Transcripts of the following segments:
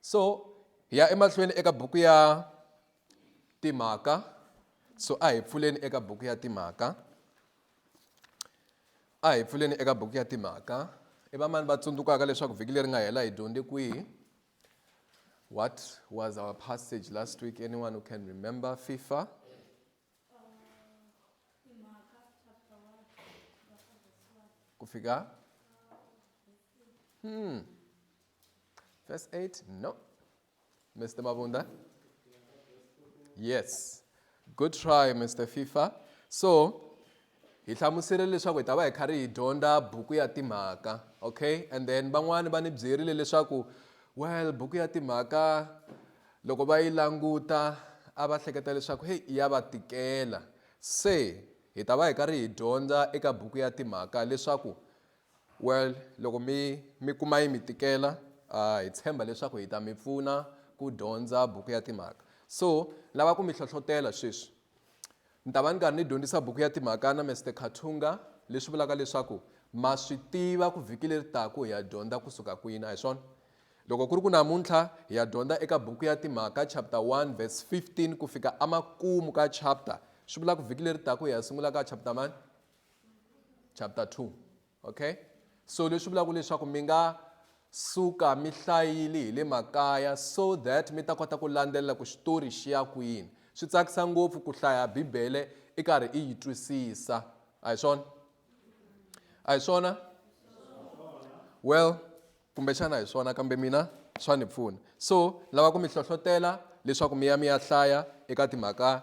so hi ya emahlweni eka buku ya timhaka so a hi pfuleni eka buku ya timhaka a hi pfuleni eka buku ya timhaka i vamani va tsundzukaka leswaku vhiki leri nga hela hi dyondze kwihi what was our passage last week anyone who can remember fifa kufika hmm. verse 8 no mr mabunda yes good try mr fifa so Hi hlamuserile leswaku hi ta va hi karhi hi dyondza buku ya timhaka okay and then van'wani va ni byerile leswaku well buku ya timhaka loko va yi languta a va hleketa leswaku heyi ya va tikela se hi ta va hi karhi hi dyondza eka buku ya timhaka leswaku well loko mi mi kuma yi mi tikela uh, hi tshemba leswaku hi ta mi pfuna ku dyondza buku ya timhaka so lava ku mi hlohlotela sweswi Ni ta va ni karhi ni dyondzisa buku ya Timhaka na Mister Katunga, leswi vulaka leswaku ma swi tiva ku vhiki leri taku hi ya dyondza ku suka kwini, a hi swona? Loko ku ri ku namuntlha hi ya dyondza eka buku ya Timhaka chapter 1 verse 15 ku fika amakumu ka chapter, swi vula ku vhiki leri taku hi ya sungula ka chapter mani? Chapter 2. Okay? So leswi vulaka leswaku mi nga suka mi hlayile hi le makaya so that mi ta kota ku landzelela ku xitori xi ya kwini swi tsakisa ngopfu ku hlaya bibele i karhi i yi twisisa a hi swona a hi swona well kumbexana hi swona kambe mina swa ni pfuna so lava ku mi hlohlotela leswaku mi ya mi ya hlaya eka timhaka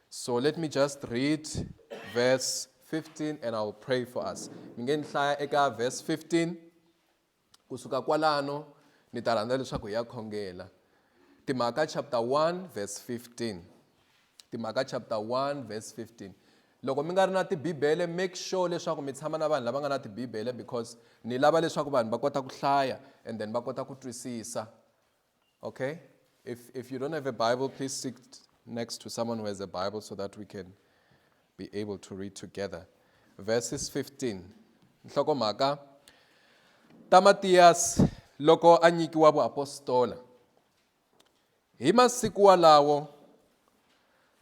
So let me just read verse 15 and I will pray for us. Mi nge ni hlaya eka verse 15 kusuka kwalano ni ta rhandza leswaku hi ya khongela. Timhaka chapter 1 verse 15. Timhaka chapter 1 verse 15. Loko mi nga ri na tibibele make sure leswaku mi tshama na vanhu lava nga na tibibele because ni lava leswaku vanhu va kota ku hlaya and then va kota ku twisisa. Okay? If, if you don't have a Bible, please sit next to someone who has a Bible so that we can be able to read together. Verses 15. Nhlokomhaka Tamatiyas loko a nyikiwa vuapostola. Hi masiku walawo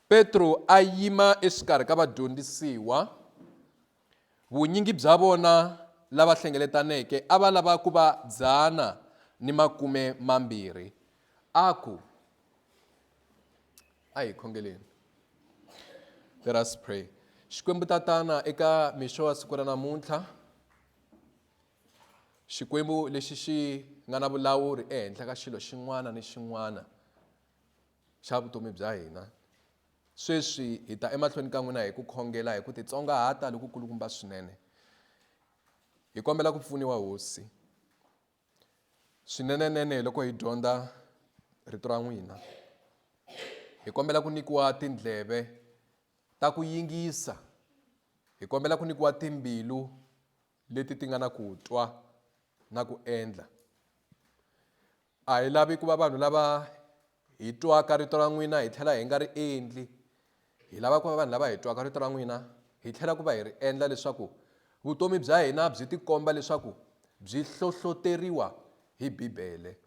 Petro a yima exikarhi ka vadyondzisiwa Vunyingi bya vona lava hlengeletaneke a va lava ku va dzana ni makume mambirhi. A ku, A hi khongeleni. Let us pray. Xikwembu Tatana, eka mixo wa siku ra namuntlha, Xikwembu lexi xi nga na vulawuri ehenhla ka xilo xin'wana ni xin'wana xa vutomi bya hina, Sweswi hi ta emahlweni ka n'wina hi ku khongela hi ku titsongahata lokukulukumba swinene. Hi kombela ku pfuniwa Hosi. Swinenenene loko hi dyondza rito ra n'wina. Hi kombela ku nyikiwa tindleve ta ku yingisa. Hi kombela ku nyikiwa timbilu leti ti nga na ku twa na ku endla. A hi lavi ku va vanhu lava hi twaka rito ra n'wina hi tlhela hi nga ri endli. Hi lava ku va vanhu lava hi twaka rito ra n'wina hi tlhela ku va hi ri endla leswaku vutomi bya hina byi tikomba leswaku byi hlohloteriwa hi Bibele.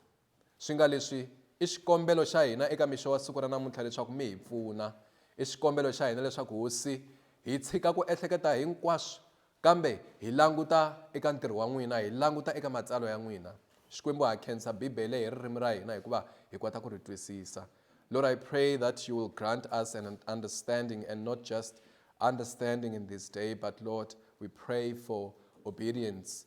Swi nga leswi, i xikombelo xa hina eka mixo wa siku ra namuntlha leswaku mi hi pfuna. I xikombelo xa hina leswaku, Hosi, hi tshika ku ehleketa hinkwaswo, kambe hi languta eka ntirho wa N'wina, hi languta eka Matsalwa ya N'wina. Xikwembu ha khensa Bibele hi ririmi ra hina hikuva hi kota ku ri twisisa. Lord, I pray that You will grant us an understanding and not just understanding in this day, but Lord, we pray for obedience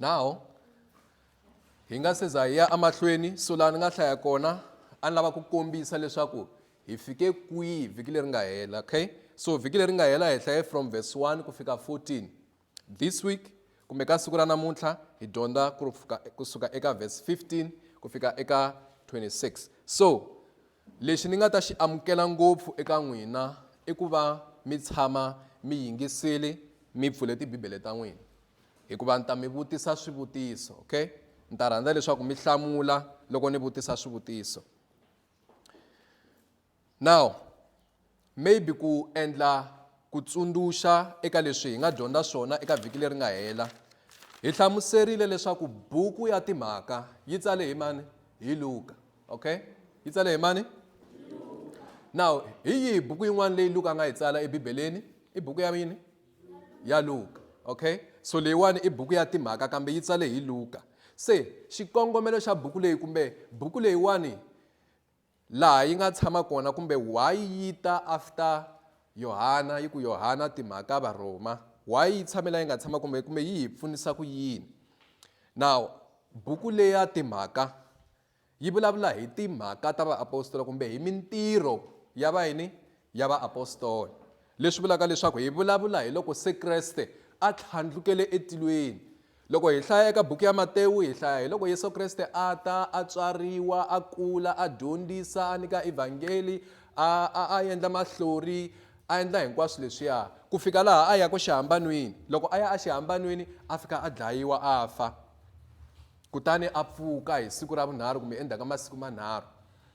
now hi nga se za hi ya emahlweni so laha ni nga hlaya kona a ni lava ku kombisa leswaku hi fike kwihi vhiki leri nga hela okay so vhiki leri nga hela hi hlaye from verse 1 ku fika 14 this week kumbe ka siku ra namuntlha hi dyondza kusuka eka verse 15 ku fika eka 26 so Lexi ni nga ta xi amukela ngopfu eka n'wina i ku va mi tshama mi yingisile mi pfule Tibibele ta n'wina, hikuva ni ta mi vutisa swivutiso. Okay, ni ta rhandza leswaku mi hlamula loko ni vutisa swivutiso. Now Maybe ku endla ku tsundzuxa eka leswi hi nga dyondza swona eka vhiki leri nga hela hi hlamuserile leswaku buku ya timhaka yi tsale hi mani hi luka okay yi tsale hi mani now hi yihi buku yin'wana leyi luka a nga yi tsala ebibeleni i buku ya yini ya luka okay so leyiwani i buku ya timhaka kambe yi tsale hi luka se xikongomelo xa buku leyi kumbe buku leyiwani laha yi nga tshama kona kumbe why yi ta after yohana yi ku yohana timhaka varhoma why yi tshame la yi nga tshama kumbe kumbe yi hi pfunisa ku yini now buku leya timhaka yi vulavula hi timhaka ta vaapostola kumbe hi mintirho ya va yini ya vaapostola leswi vulaka leswaku hi vulavula hi loko se kreste a tlhandlukele etilweni Loko hi hlaya eka buku ya Matewu, hi hlaya hi loko Yesu Kreste a ta, a tswariwa, a kula, a dyondzisa, a nyika evhangeli, a, a, a endla mahlori, a endla hinkwaswo leswiya, ku fika laha a ya ku xihambanwini. Loko a ya exihambanwini, a fika a dlayiwa, a fa, kutani a pfuka hi siku ra vunharhu kumbe endzhaku ka masiku manharhu.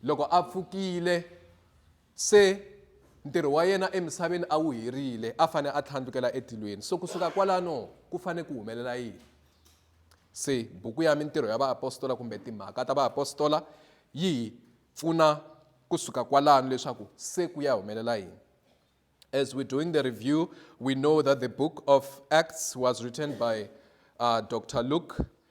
Loko a pfukile, Se, ntirho wa yena emisaveni a wu herile, a fane a tlhandlukela etilweni. So ku suka kwalano ku fane ku humelela yini? Se, buku ya Mintirho ya Vaapostola kumbe Timhaka ta Vaapostola yi hi pfuna ku suka kwalano leswaku se ku ya humelela yini. As we're doing the review, we know that the book of Acts was written by uh, Dr. Luke,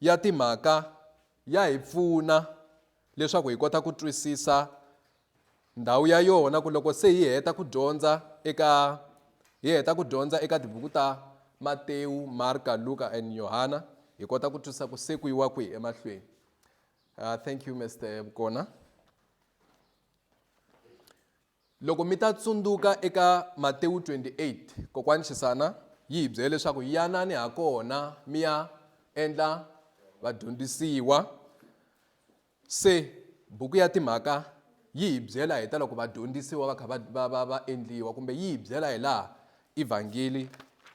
ya timhaka ya hi pfuna leswaku hi kota ku twisisa ndhawu ya yona ku loko se hi heta ku dyondza eka hi heta ku dyondza eka tibuku ta Matewu, Marka, Luka and Yohana hi kota ku twisisa ku se ku yiwa kwihi emahlweni. Uh, thank you Mr. Bukona. Loko mi ta tsundzuka eka Matewu 28, kokwani Xisana yi hi byele leswaku yanani ha kona mi ya endla vadyondzisiwa. Se buku ya timhaka yi hi byela hi ta loko vadyondzisiwa va kha va va va va endliwa kumbe yi hi byela hi laha evhangeli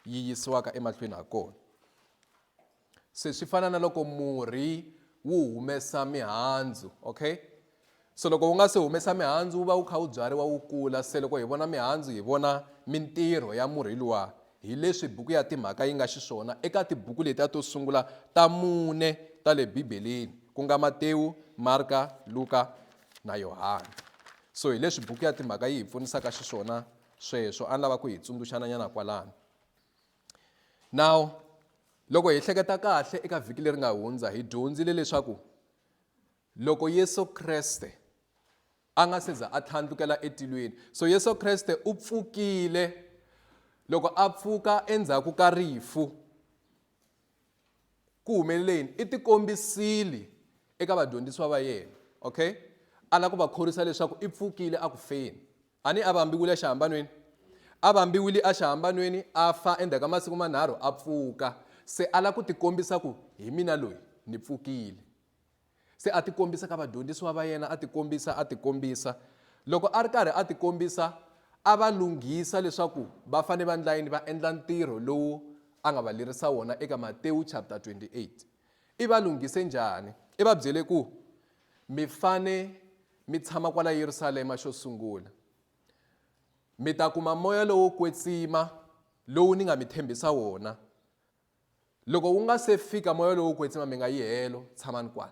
yi yisiwaka emahlweni ha kona. Se swi fana na loko murhi wu humesa mihandzu okay so loko wu nga se humesa mihandzu wu va wu kha wu byariwa wu kula se loko hi vona mihandzu hi vona mintirho ya murhi luwa hi leswi buku ya timhaka yi nga xiswona eka tibuku letiya to sungula ta mune ta le bibeleni ku nga matewu marka luka na yohana so hi leswi buku ya timhaka yi hi pfunisaka xiswona sweswo a ni lava ku hi tsundzuxananyana kwalano now loko hi hleketa kahle eka vhiki leri nga hundza hi dyondzile leswaku loko yesu kreste a nga se za a tlhandlukela etilweni so yesu kreste u pfukile loko a pfuka endzhaku ka rifu ku humelele yini i tikombisile eka vadyondzisiwa va yena okay a lava ku va khorwisa leswaku i pfukile a ku feni A ni a vambiwile exihambanweni. A vambiwile exihambanweni, a fa, endzhaku ka masiku manharhu a pfuka. Se a lava ku tikombisa ku, Hi mina loyi, ni pfukile. Se a tikombisa ka vadyondzisiwa va yena, a tikombisa, a tikombisa. Loko a ri karhi a tikombisa, a va lunghisa leswaku va fanele va endla yini, va endla ntirho lowu a nga va lerisa wona eka Matewu chapter 28. I va lunghise njhani? I va byele ku, Mi fane mi tshama kwala Yerusalema xo sungula. Mi ta kuma moya lowo kwetsima lowu ni nga mi tshembisa wona. Loko wu nga se fika moya lowo kwetsima mi nga yi helo, tshamani kwala.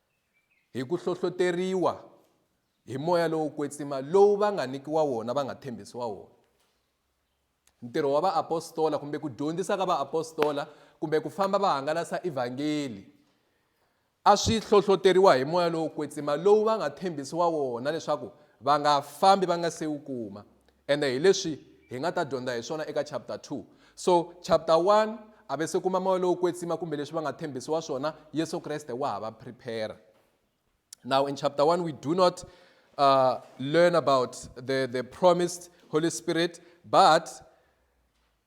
Hi ku hlohloteriwa hi moya lowo kwetsima lowu va nga nyikiwa wona va nga tshembisiwa wona ntirho wa vaapostola kumbe ku dyondzisa ka vaapostola kumbe ku famba va hangalasa evhangeli a swi hlohloteriwa hi moya lowo kwetsima lowu va nga tshembisiwa wona leswaku va nga fambi va nga se wu kuma ene hi leswi hi nga ta dyondza hi swona eka chapter 2 so chapter 1 a ve se kuma moya lowo kwetsima kumbe leswi va nga tshembisiwa swona yesu kreste wa ha va prepare now in chapter 1 we do not uh, learn about the, the promised holy spirit but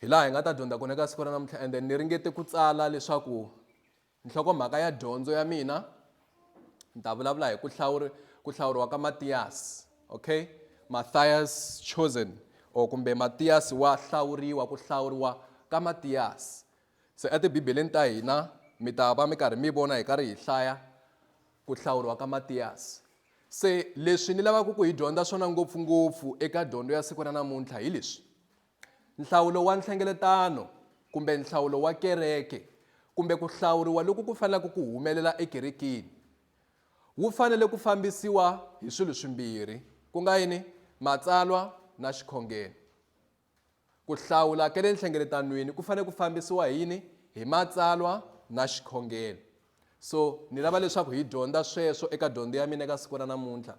Hi laha hi nga ta dyondza kona eka siku ra namuntlha and then ni ringete ku tsala leswaku nhlokomhaka ya dyondzo ya mina ni ta vulavula hi ku hlawuri ku hlawuriwa ka Matiyasi okay Matthias chosen or kumbe Matiyasi wa hlawuriwa ku hlawuriwa ka Matiyasi se etibibeleni ta hina mi ta va mi karhi mi vona hi karhi hi hlaya ku hlawuriwa ka Matiyasi se leswi ni lavaka ku hi dyondza swona ngopfungopfu eka dyondzo ya siku ra namuntlha hi leswi Nhlawulo wa nhlengeletano kumbe nhlawulo wa kereke kumbe ku hlawuriwa loku ku fanelaka ku humelela ekerekeni wu fanele ku fambisiwa hi swilo swimbirhi ku nga yini matsalwa na xikhongelo ku hlawula ka le nhlengeletanweni ku fanele ku fambisiwa hi yini hi matsalwa na xikhongelo so ni lava leswaku hi dyondza sweswo eka dyondzo ya mina eka siku ra namuntlha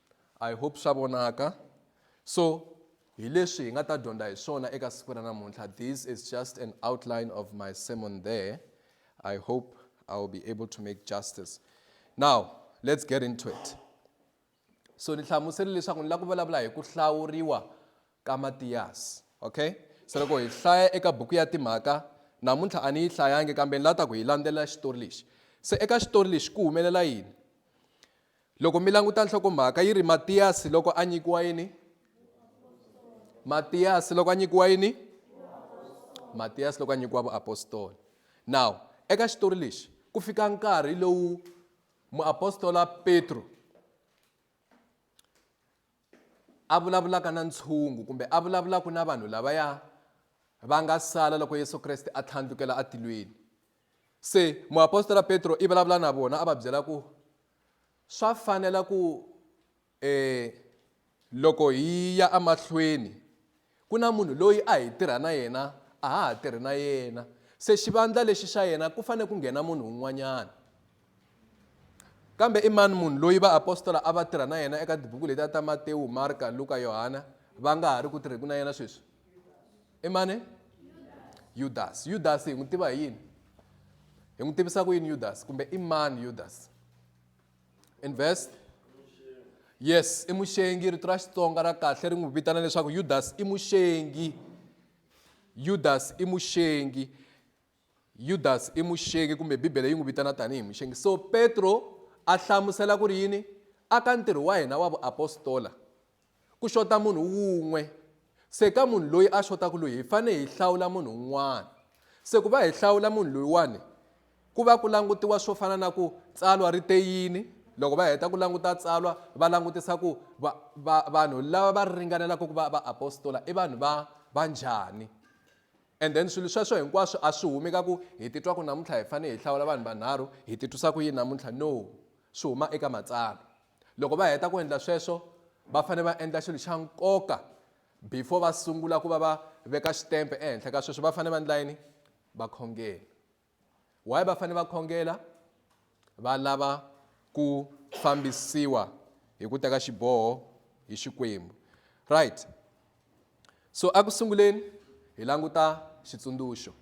I hope swa vonaka so hi leswi hi nga ta dyondza hi swona eka siku ra namuntlha this is just an outline of my sermon there i hope i will be able to make justice now let's get into it so ni hlamusele leswaku ni lava ku vulavula hi ku hlawuriwa ka matiyasi okay se loko hi hlaya eka buku ya timhaka namuntlha a ni yi hlayangi kambe ni lava ta ku hi landzelela xitori lexi se eka xitori lexi ku humelela yini Loko mi languta nhlokomhaka yi ri Matiyasi loko a nyikiwa yini? Matiyasi loko a nyikiwa yini? Matiyasi loko a nyikiwa vuapostoli. Now, eka xitori lexi ku fika nkarhi lowu muapostola Petro a vulavulaka na ntshungu kumbe a vulavulaka na vanhu lavaya va nga sala loko Yesu Kreste a tlhandlukela atilweni. Se muapostola Petro i vulavula na vona a va byela ku, Swa fanela ku e loko hi ya emahlweni ku na munhu loyi a hi tirha na yena a ha ha tirhi na yena, se xivandla lexi xa yena ku fanele ku nghena munhu un'wanyana. Kambe i mani munhu loyi vaapostola a va tirha na yena eka tibuku letiya ta Matewu, Marka, Luka, Yohana va nga ha ri ku tirheni na yena sweswi? i mani yudasi yudasi hi n'wi tiva hi yini hi n'wi tivisa ku yini yudasi kumbe i mani yudasi in verse yes i muxengi rito ra xitsonga ra kahle ri n'wi vitana leswaku yudasi i muxengi yudasi i muxengi Yudasi i muxengi kumbe Bibele yi n'wi vitana tanihi muxengi. So Petro a hlamusela ku ri yini? A ka ntirho wa hina wa vuapostola ku xota munhu wun'we. Se ka munhu loyi a xotaku loyi hi fane hi hlawula munhu un'wana. Se ku va hi hlawula munhu loyiwani ku va ku langutiwa swo fana na ku tsalwa ri te yini, loko va heta ku languta tsalwa va langutisa ku va va vanhu lava va ringanelaka ku va vaapostola i vanhu va va njhani. And then swilo sweswo hinkwaswo a swi humi ka ku hi titwa ku namuntlha hi fanele hi hlawula vanhu vanharhu, hi titwisa ku yini namuntlha. No. Swi huma eka Matsalwa. Loko va heta ku endla sweswo, va fanele va endla xilo xa nkoka before va sungula ku va va veka xitempe ehenhla ka sweswo. Va fanele va endla yini? Va khongela. Why va fane va khongela? Va lava ku fambisiwa hi ku teka xiboho hi Xikwembu. Right. So a ku sunguleni hi languta xitsundzuxo.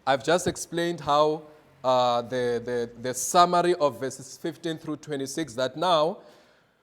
I've just explained how uh, the, the, the summary of verses 15 through 26 that now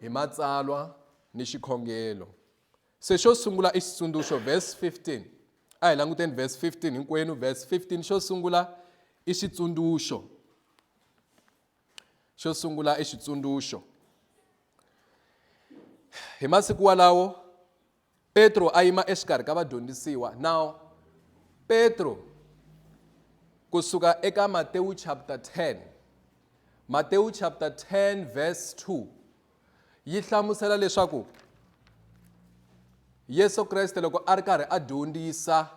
hi matsalwa ni xikhongelo se xo sungula i xitsundzuxo verse 15 a hi languteni verse 15 hinkwenu verse 15 xo sungula i xitsundzuxo xo sungula i xitsundzuxo hi masiku walawo Petro a yima exikarhi ka vadyondzisiwa. Now, Petro ku suka eka Matewu chapter 10, Matewu chapter 10 verse 2 yi hlamusela leswaku Yesu Kreste loko a ri karhi a dyondzisa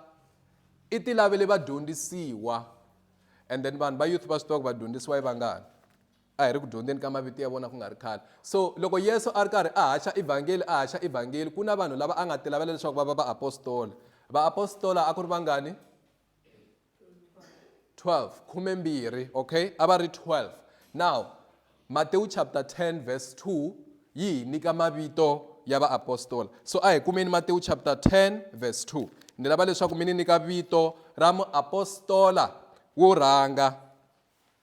i ti lavele vadyondzisiwa and then vanhu va youth va swi tiva ku vadyondzisiwa i vangani. A hi ri ku dyondzeni ka mavito ya vona ku nga ri khale. So, loko Yesu a ri karhi a haxa Evhangeli, a haxa Evhangeli, ku na vanhu lava a nga tilavela leswaku va va vaapostola. Vaapostola a ku ri vangani? 12, khumembirhi, okay? A va ri 12. Now, Matewu chapter 10 verse 2 yi hi nyika mavito ya vaapostola. So, a hi kumeni Matewu chapter 10 verse 2. Ni lava leswaku mi ni nyika vito ra muapostola wo rhanga.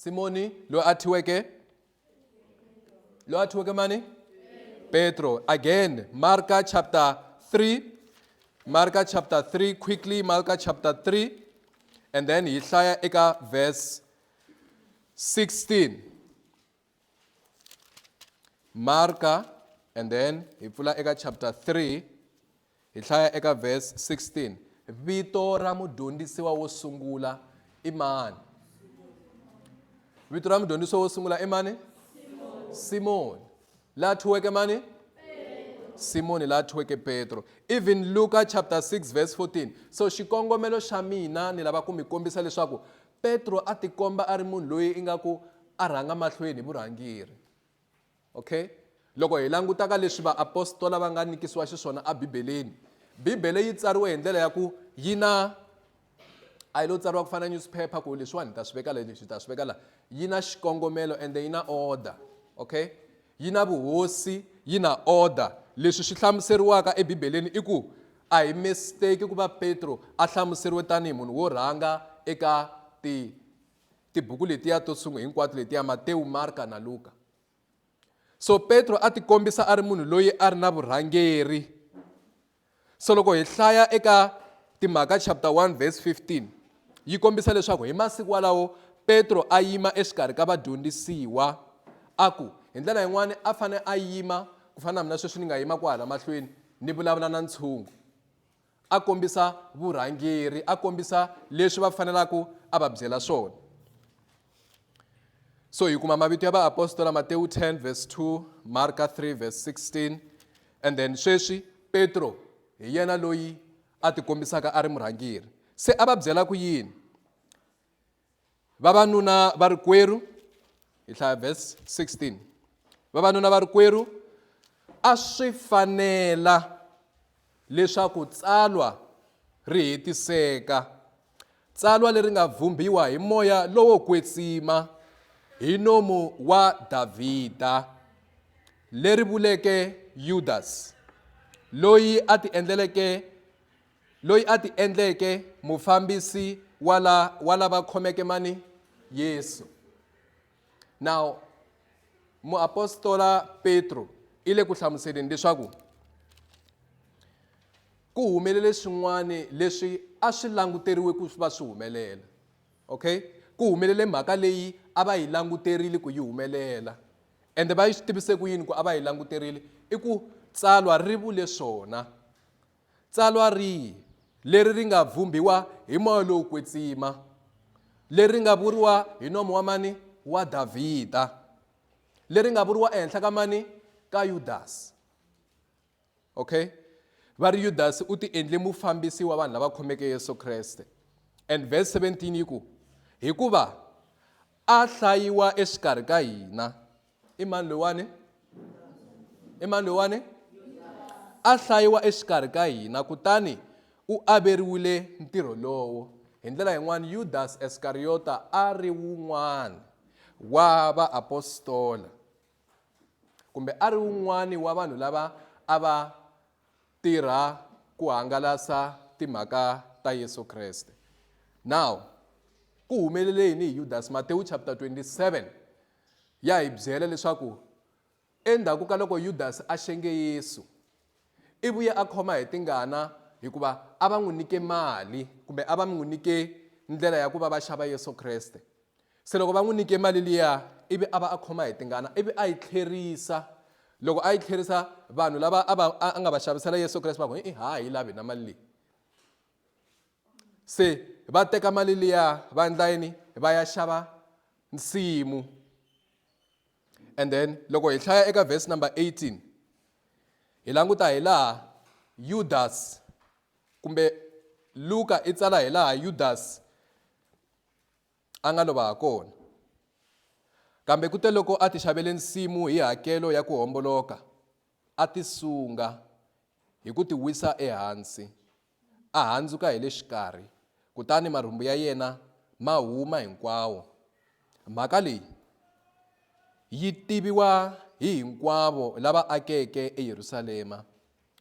simoni loyi a thiweke loyi a thiweke mani petro again marka chapter 3 marka chapter 3 quickly marka chapter 3 and then hi hlaya eka verse 16 marka and then hi pfula eka chapter 3 Hi hlaya eka verse 16. Vito ra mudyondzisiwa wo sungula i mani? Vito ra mudyondzisiwa wo sungula i mani? Simoni. La thyiweke mani? Simoni la thyiweke Petro. Even Luka chapter 6 verse 14. So xikongomelo xa mina ni lava ku mi kombisa leswaku Petro a tikomba a ri munhu loyi ingaku a rhanga mahlweni hi vurhangeri. Okay? Loko hi languta ka leswi vaapostola va nga nyikisiwa xiswona eBibeleni, Bibele yi tsariwe hi ndlela ya ku yi na a yi lo tsariwa ku fana newspaper ku leswiwani ni ta swi veka la leswi ta swi veka la yi na xikongomelo ende yi na order okay yi na vuhosi yi na order leswi swi hlamuseriwaka ebibeleni i ku a hi mistake ku va petro a hlamuseriwe tanihi munhu wo rhanga eka ti Tibuku letiya to sungula hinkwato letiya Matewu, Marka na Luka. So Petro a tikombisa a ri munhu loyi a ri na vurhangeri. So loko hi hlaya eka Timhaka chapter 1 verse 15 yi kombisa leswaku hi masiku walawo Petro a yima exikarhi ka vadyondzisiwa a ku hi ndlela yin'wana a fanele a yima ku fana na mina sweswi ni nga yima kwahala mahlweni ni vulavula na ntshungu a kombisa vurhangeri a kombisa leswi va fanelaka a va byela swona so hi kuma mavito ya vaapostola matewu 10 verse 2 marka 3 verse 16 and then sweswi petro hi yena loyi a tikombisaka a ri murhangeri se a va byela ku yini vavanuna va ri kwerhu hi hlaya verse 16 vavanuna va ri kwerhu a swi fanela leswaku tsalwa ri hetiseka tsalwa leri nga vhumbiwa hi moya lowo kwetsima hi nomu wa davhida leri vuleke yudasi loyi a ti endleleke Loyi a ti endleke mufambisi wa la wa lava khomeke mani Yesu. Now muapostola Petro i le ku hlamuseleni leswaku ku humelele swin'wana leswi a swi languteriwe ku va swi humelela okay ku humelele mhaka leyi a va yi languterile ku yi humelela ende va yi swi tivise ku yini ku a va yi languterile i ku tsalwa ri vule swona Tsalwa rihi leri ri nga vhumbhiwa hi moya lowo kwetsima, leri ri nga vuriwa hi nomo wa mani? Wa Davhida. Leri ri nga vuriwa ehenhla ka mani? Ka Yudasi. Okay? Va ri Yudasi u ti endle mufambisi wa vanhu lava khomeke Yesu Kreste. And verse 17 yi ku, Hikuva a hlayiwa exikarhi ka hina. i mani loyiwani i mani loyiwani a hlayiwa exikarhi ka hina kutani u averiwile ntirho lowo hi ndlela yin'wana yudasi esikariyota a ri wun'wana wa vaapostola kumbe a ri wun'wana wa vanhu lava a va tirha ku hangalasa timhaka ta yesu kreste now ku humelele yini hi yudasi matewu chapter 27 Ya hi byela leswaku endzhaku ka loko Yudasi a xenge Yesu, i vuye a khoma hi tingana hikuva a va n'wi nyike mali kumbe a va n'wi nyike ndlela ya ku va va xava Yesu Kreste. Se loko va n'wi nyike mali liya ivi a va a khoma hi tingana ivi a yi tlherisa. Loko a yi tlherisa vanhu lava a va a nga va xavisela Yesu Kreste va ku, i-i ha ha yi lavi hina mali leyi. se va teka mali liya va endla yini va ya xava nsimu and then loko hi hlaya eka verse number 18 hi languta hi laha yudas kumbe luka i tsala hi laha yudas a nga lova ha kona kambe kute loko a ti xavele nsimu hi hakelo ya ku homboloka a ti sunga hi ku tiwisa ehansi, a handzuka hi le xikarhi, kutani marhumbu ya yena ma huma hinkwawo. Mhaka leyi yi tiviwa hi hinkwavo lava akeke eYerusalema,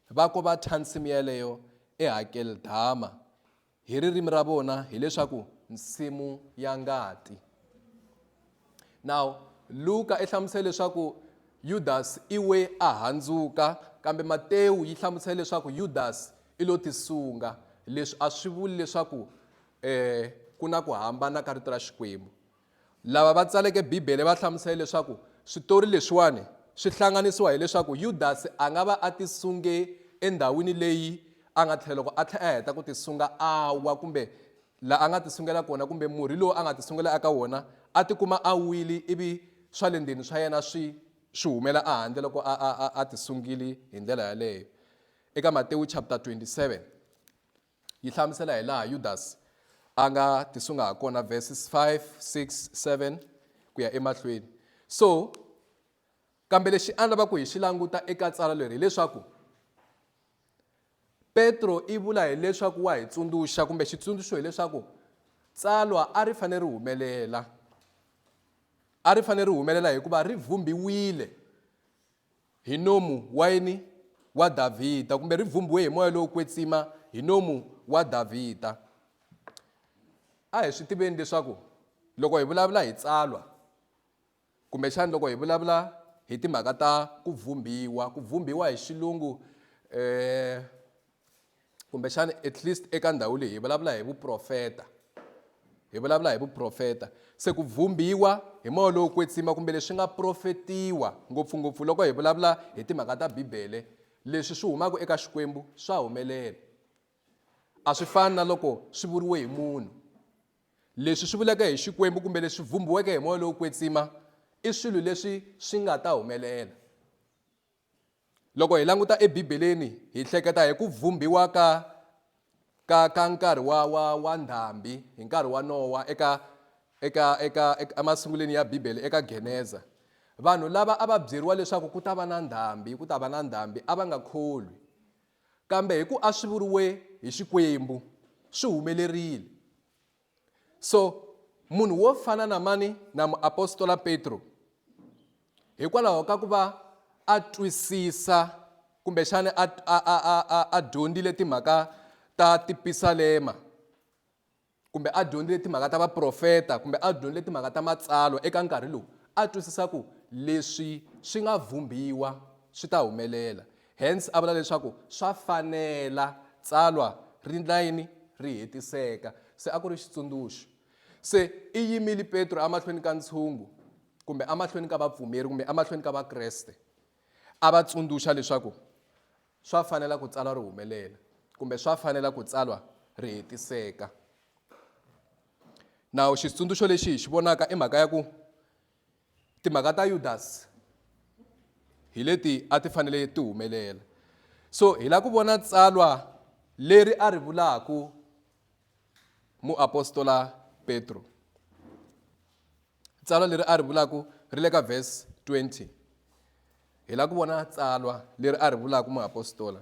va ko va thya nsimu yaleyo eHakeldama. hi ririmi ra vona hileswaku nsimu ya ngati now luka i hlamusele leswaku yudasi i we a handzuka kambe matewu yi hlamusele leswaku yudasi i lo tisunga leswi a swi vuli leswaku um ku na ku hambana ka rito ra xikwembu Lava va tsaleke Bibele va hlamusele leswaku switori leswiwani swi hlanganisiwa hileswaku Yudasi a nga va a tisunge endhawini leyi a nga tlhela loko a tlhela a heta ku tisunga a wa kumbe la a nga tisungela kona kumbe murhi lowu a nga tisungela eka wona a tikuma a wili ivi swa le ndzeni swa yena swi swi humela ehandle loko a a a a tisungili hi ndlela yaleyo eka Matewu chapter 27 Yi hlamusela hilaha Yudasi a nga tisunga hakona, verses 5, 6, 7 ku ya emahlweni. So, kambe lexi a ni lava ku hi xi languta eka tsala leri hileswaku Petro i vula hileswaku wa hi tsundzuxa kumbe xitsundzuxo hileswaku tsalwa a ri fanele ri humelela a ri fanele ri humelela hikuva ri vhumbiwile Hinomu, Wayini wa Davhida, kumbe ri vhumbhiwe hi moya lowo kwetsima, Hinomu wa Davhida. A hi swi tiveni leswaku loko hi vulavula hi tsalwa kumbexani loko hi vulavula hi timhaka ta ku vhumbhiwa ku vhumbhiwa hi xilungu um kumbexana at least eka ndhawu leyi hi vulavula hi vuprofeta hi vulavula hi vuprofeta se ku vhumbiwa hi moya lowo kwetsima kumbe leswi nga profetiwa ngopfungopfu loko hi vulavula hi timhaka ta bibele leswi swi humaka eka xikwembu swa humelela a swi fani na loko swi vuriwe hi munhu leswi swi vuleke hi xikwembu kumbe leswi vhumbiweke hi moya lowo kwetsima i swilo leswi swi nga ta humelela loko hi languta ebibeleni hi hleketa hi ku vhumbiwa ka ka ka nkarhi wa wa wa ndhambi hi nkarhi wa nowa eka eka eka emasunguleni ya bibele eka geneza vanhu lava a va byeriwa leswaku ku ta va na ndhambi ku ta va na ndhambi a va nga kholwi kambe hi ku a swi vuriwe hi xikwembu swi humelerile so munhu wo fana na mani na muapostola petro hikwalaho ka ku va a twisisa kumbexana a, a, a, a, a dyondzile timhaka ta tipisalema kumbe a dyondzile timhaka ta vaprofeta kumbe a dyondzile timhaka ta matsalwa eka nkarhi lowu a twisisa ku leswi swi nga vhumbiwa swi ta humelela Hence a vula leswaku swa fanela tsalwa ri endla yini? Ri hetiseka. Se a ku ri xitsundzuxo. Se i yimile Petro emahlweni ka ntshungu, kumbe emahlweni ka vapfumeri, kumbe emahlweni ka Vakreste, a va tsundzuxa leswaku swa fanela ku tsalwa ri humelela, kumbe swa fanela ku tsalwa ri hetiseka. Nawu xitsundzuxo lexi hi xi vonaka i mhaka ya ku timhaka ta yudasi hi leti a ti fanele ti humelela so hi lava ku vona tsalwa leri a ri vulaku muapostola petro tsalwa leri a ri vulaku ri le ka vhesi 20 hi lava ku vona tsalwa leri a ri vulaku muapostola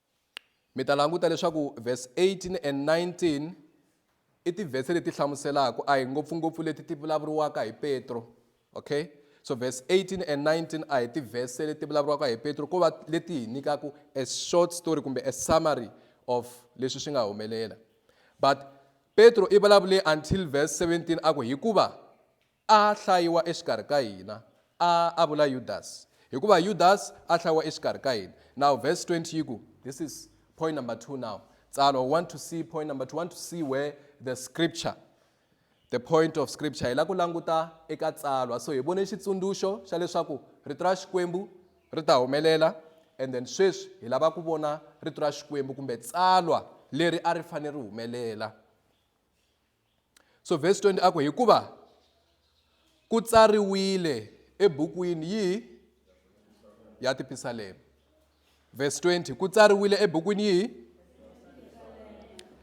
Mi ta languta leswaku verse 18 and 19 i tivhese leti hlamuselaka a hi ngopfungopfu leti ti vulavuriwaka hi petro okay so verse 18 and 19 a hi tivhese leti vulavuriwaka hi petro ko va leti hi nyikaka a short story kumbe a summary of leswi swi nga humelela but petro i vulavule until verse 17 a ku hikuva A hlayiwa exikarhi ka hina. A a vula Yudasi. Hikuva Yudasi a hlayiwa exikarhi ka hina. Now verse 20 yi ku, this is point number two now. Tsalwa, we want to see point number two, we want to see where the scripture, the point of scripture. Hi la ku languta eka tsalwa. So hi vone xitsundzuxo xa leswaku rito ra Xikwembu ri ta humelela and then sweswi hi lava ku vona rito ra Xikwembu kumbe tsalwa leri a ri fanele ri humelela. so vhesi 20 a ku hikuva ku tsariwile ebukwini yihi ya tipisalema vhesi 20 ku tsariwile ebukwini yihi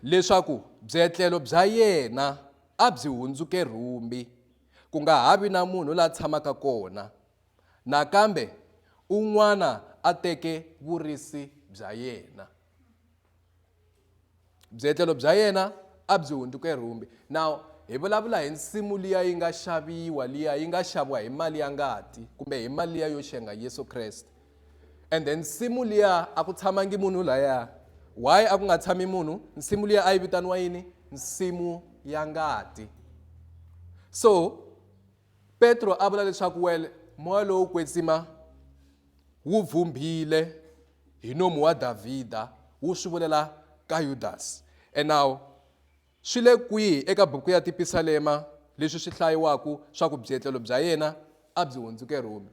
leswaku byetlelo bya yena a byi hundzuke rhumbi ku nga ha vi na munhu la tshamaka kona nakambe un'wana a teke vurisi bya yena byetlelo bya yena a byi hundzuke rhumbi now hi vulavula hi nsimu liya yi nga xaviwa liya yi nga xaviwa hi mali ya ngati kumbe hi mali liya yo xenga yesu kreste and then nsimu liya a ku tshamangi munhu laya why a ku nga tshami munhu nsimu liya a yi vitaniwa yini nsimu ya ngati so Petro a vula leswaku well moya lowo kwetsima wu vhumbhile hi nomu wa Davhida wu swi vulela ka Yudasi. And now swi le kwihi eka buku ya Tipisalema leswi swi hlayiwaku swa ku byetlelo bya yena a byi hundzuke Rhumi?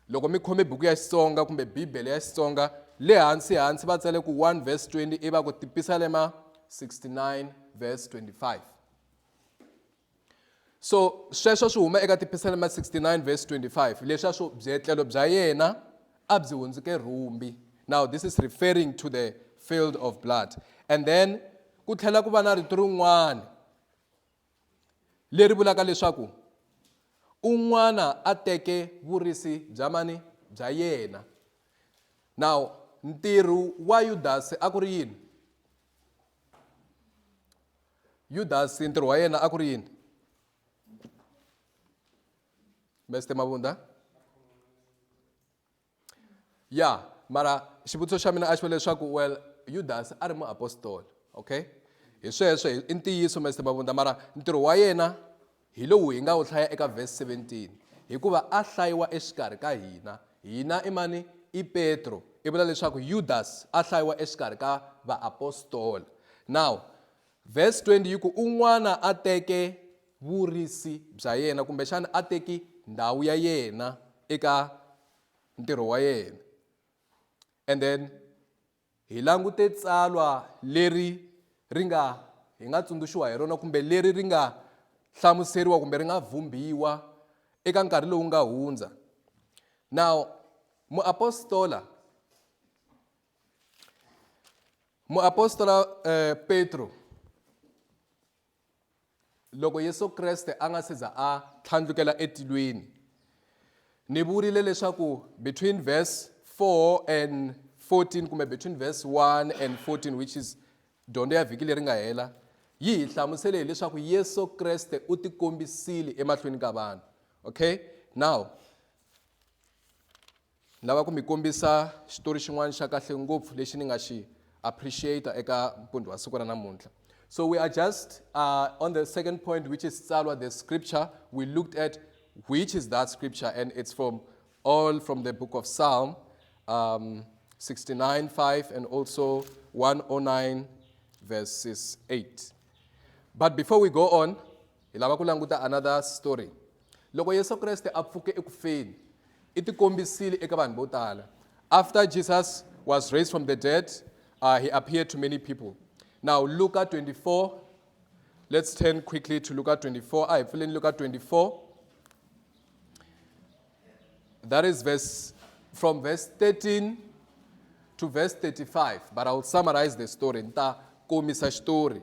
Loko mi khome buku ya Xitsonga kumbe Bibele ya Xitsonga, le hansi hansi va tsale ku 1 verse 20 iva ku Tipisalema 69 verse 25. So sweswo swi huma eka Tipisalema 69 verse 25 leswa swo byetlelo bya yena a byi hundzuke rhumbi. Now this is referring to the field of blood. And then ku tlhela ku va na rito rin'wana leri vulaka leswaku un'wana a teke vurisi bya mani bya yena now ntirho wa yudasi a ku ri yini Yudasi ntirho wa yena a ku ri yini? Mister Mavundha? Ya, mara xivutiso xa mina a xi va leswaku well Yudasi a ri muapostoli, okay? Hi sweswo i ntiyiso Mister Mavundha mara ntirho wa yena Hi lowu hi nga wu hlaya eka vhesi 17, Hikuva a hlayiwa exikarhi ka hina. Hina i mani? I Petro. I vula leswaku Yudasi a hlayiwa exikarhi ka vaapostola. Now, vhesi 20 yi ku, Un'wana a teke vurisi bya yena, kumbexana a teki ndhawu ya yena eka ntirho wa yena. And then Hi langute tsalwa leri ri nga hi nga tsundzuxiwa hi rona kumbe leri ri nga hlamuseriwa kumbe ri nga vhumbhiwa eka nkarhi lowu nga hundza. Now muapostola muapostola eh, Petro Loko Yesu Kreste a nga se za a tlhandlukela etilweni, ni vurile leswaku between verse 4 and 14 kumbe between verse 1 and 14 which is dyondzo ya vhiki leri nga hela yi hi hlamusele hileswaku yesu kreste u tikombisile emahlweni ka vanhu okay now Ni lava ku mi kombisa xitori xin'wana xa kahle ngopfu lexi ni nga xi appreciate eka mpundzu wa siku ra namuntlha. So we are just uh, on the second point which is tsalwa the scripture we looked at which is that scripture and it's from all from the book of Psalm um, 69 5 and also 109 verses 8. But before we go on, Hi lava ku languta another story. Loko Yesu Kreste a pfuke eku feni, i tikombisile eka vanhu vo tala. After Jesus was raised from the dead, uh, he appeared to many people. Now, Luka 24, let's turn quickly to Luka 24. I fill in Luka 24. That is verse from verse 13 to verse 35, but I'll summarize the story. Nta komisa story.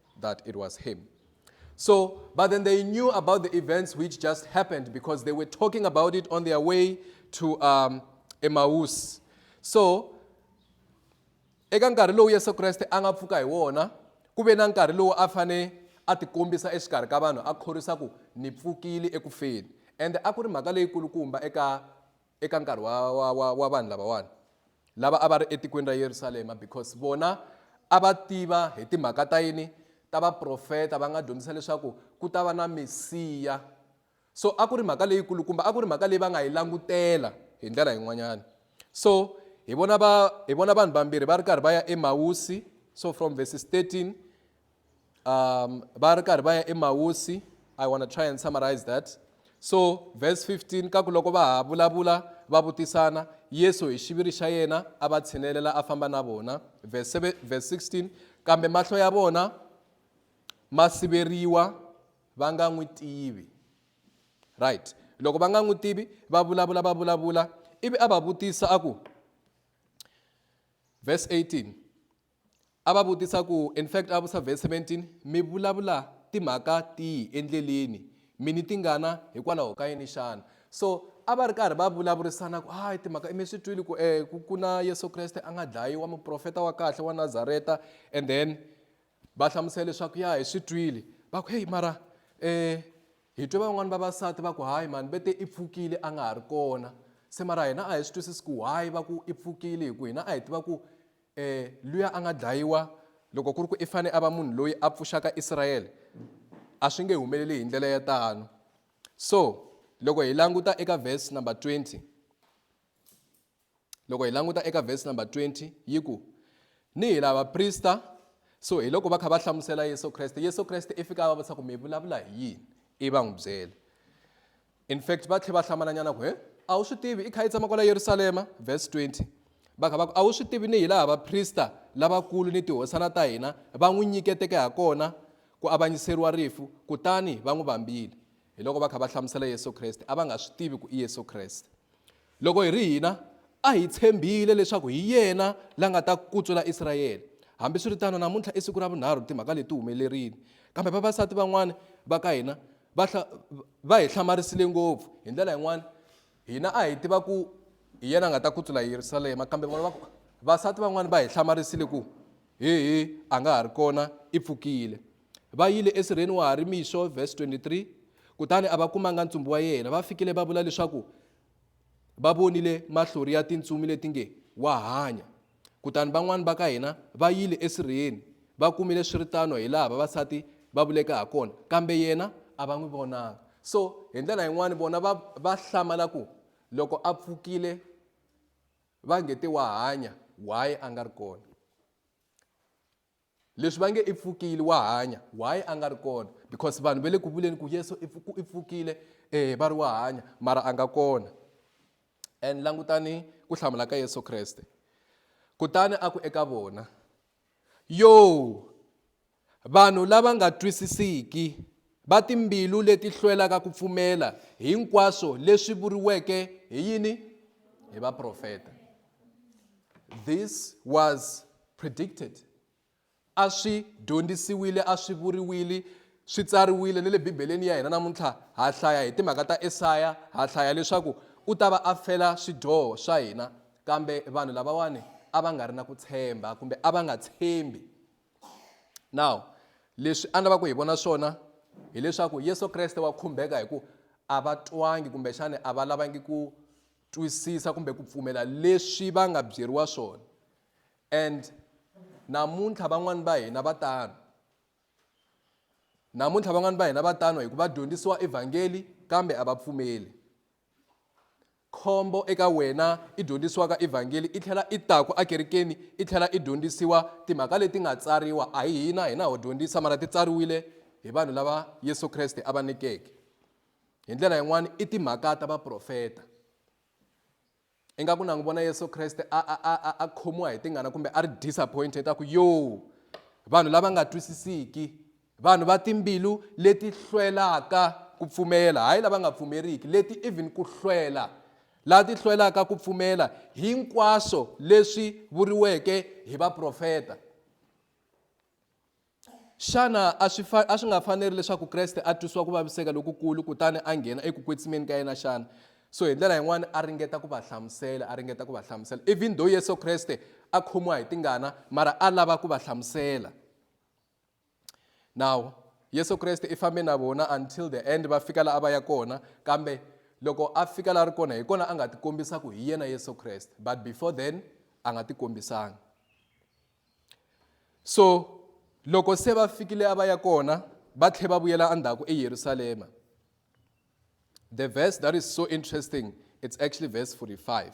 that it was him. So, but then they knew about the events which just happened because they were talking about it on their way to um, Emmaus. So, eka nkarhi lowu yesu kreste a nga pfuka hi wona ku ve na nkarhi lowu a fane a tikombisa exikarhi ka vanhu a khorwisa ku ni pfukile ekufeni ende a ku ri mhaka leyikulukumba eka eka nkarhi wa wa wa wa vanhu lavawani lava a va ri etikweni ra Yerusalema because vona a va tiva hi timhaka ta yini ta vaprofeta va nga dyondzisa leswaku ku ta va na mesiya so a ku ri mhaka leyi kulukumba a ku ri mhaka leyi va nga yi langutela hi ndlela yin'wanyana so hi vona va hi vona vanhu vambirhi va ri karhi va ya emawusi so from verses 13 um, va ri karhi va ya emawusi i want to try and summarize that so verse 15 ka ku loko va ha vulavula va vutisana yesu hi xiviri xa yena a va tshinelela a famba na vona verse 16 kambe mahlo ya vona ma siveriwa va nga n'wi tivi right loko va nga n'wi tivi va vulavula va vulavula ivi a va vutisa a ku verse 18 A va vutisa ku, In fact, a vusa verse 17, mi vulavula timhaka tihi endleleni, mi ni tingana hikwalaho ka yini xana? So a va ri karhi va vulavurisana ku hayi timhaka mi swi twile ku eh ku ku na Yesu Kreste a nga dlayiwa muprofeta wa kahle wa Nazareta and then va hlamusela leswaku ya hi swi twile va ku heyi mara eh hi twe van'wani vavasati va ku hayi mani ve te i pfukile a nga ha ri kona se mara hina a hi swi twisisi ku why va ku i pfukile hi ku hina a hi tiva ku E, luya a nga dlayiwa, loko ku ri ku i fane a va munhu loyi a pfuxaka Israyele, a swi nge humeleli hi ndlela ya tano. So, loko hi languta eka verse number 20, loko hi languta eka verse number 20 yi ku ni hi lava prista so hi loko va kha va hlamusela yesu kreste yesu kreste i fika a va vutisa ku mi vulavula hi yini i va n'wi byele In fact, va tlhe va hlamalanyana ku, He, a wu swi tivi i kha i tshama kwala Yerusalema? Verse 20, Va kha va ku, A wu swi tivi ni hilaha vaprista lavakulu ni tihosana ta hina va n'wi nyiketeke ha kona ku avanyiseriwa rifu, kutani va n'wi vambile? Hiloko va kha va hlamusela Yesu Kreste, a va nga swi tivi ku i Yesu Kreste. Loko hi ri hina, a hi tshembile leswaku hi yena la nga ta kutsula Israyele. Hambiswiritano, namuntlha i siku ra vunharhu timhaka leti ti humelerile. Kambe vavasati van'wana va ka hina va va hi hlamarisile ngopfu. Hi ndlela yin'wana, hina a hi tiva ku hi yena a nga ta kutsula Yerusalema, kambe vona va ku, vasati van'wana va hi hlamarisile ku, Hehe, a nga ha ri kona, i pfukile. Va yile esirheni wa ha ri mixo, verse 23, kutani a va kumanga ntsumbu wa yena. Va fikile va vula leswaku va vonile mahlori ya tintsumi leti nge wa hanya kutani van'wani va ka hina va yile esirheni va kumile swi ri tano hi laha vavasati va vuleke ha kona kambe yena a va n'wi vonanga so hi ndlela yin'wani vona va va hlamala ku loko a pfukile va nge te wa hanya why a nga ri kona leswi va nge i pfukile wa hanya why a nga ri kona because vanhu va le ku vuleni ku yesu i pfukile um va ri wa hanya mara a nga kona and langutani ku hlamula ka yesu kreste kutani a ku eka vona yo vanhu lava nga twisisiki va timbilu leti hlwelaka ku pfumela hinkwaswo leswi vuriweke hi yini hi vaprofeta this was predicted, a swi dyondzisiwile, a swi vuriwile, swi tsariwile ni le Bibeleni ya hina namuntlha. Ha hlaya hi timhaka ta Esaya, ha hlaya leswaku u ta va a fela swidyoho swa hina. Kambe vanhu lavawani a va nga ri na ku tshemba kumbe a va nga tshembi. Now leswi a ni lava ku hi vona swona hileswaku Yesu Kreste wa khumbeka hi ku a va twangi kumbexani a va lavangi ku twisisa kumbe ku pfumela leswi va nga byeriwa swona And namuntlha van'wani va hina va tano namuntlha van'wani va hina va tano hi ku va dyondzisiwa evhangeli kambe a va pfumeli khombo eka wena i dyondzisiwaka evhangeli i tlhela i taku ekerekeni i tlhela i dyondzisiwa timhaka leti nga tsariwa a hi hina hina ho dyondzisa mara ti tsariwile hi vanhu lava yesu kreste a va nyikeke hi ndlela yin'wana i timhaka ta vaprofeta ingaku na n'wi vona yesu kreste a, a, a, a, a khomiwa hi tingana kumbe a ri disappointed a ku yo vanhu lava nga twisisiki vanhu va timbilu leti hlwelaka ku pfumela hayi lava nga pfumeriki leti even ku hlwela laha ti hlwelaka ku pfumela hinkwaswo leswi vuriweke hi vaprofeta xana a swi fa a swi nga faneri leswaku kreste a twisiwa ku vaviseka lokukulu kutani a nghena eku kwetsimeni ka yena xana so hi ndlela yin'wana a ringeta ku va hlamusela a ringeta ku va hlamusela even though yesu kreste a khomiwa hi tingana mara a lava ku va hlamusela now yesu kreste i fambe na vona until the end va fika laha a va ya kona kambe loko a fika laha ri kona hi kona a nga tikombisa ku hi yena yesu kreste but before then a nga tikombisanga so loko se va fikile a va ya kona va tlhe va vuyela endzhaku eyerusalema the verse that is so interesting it's actually verse 45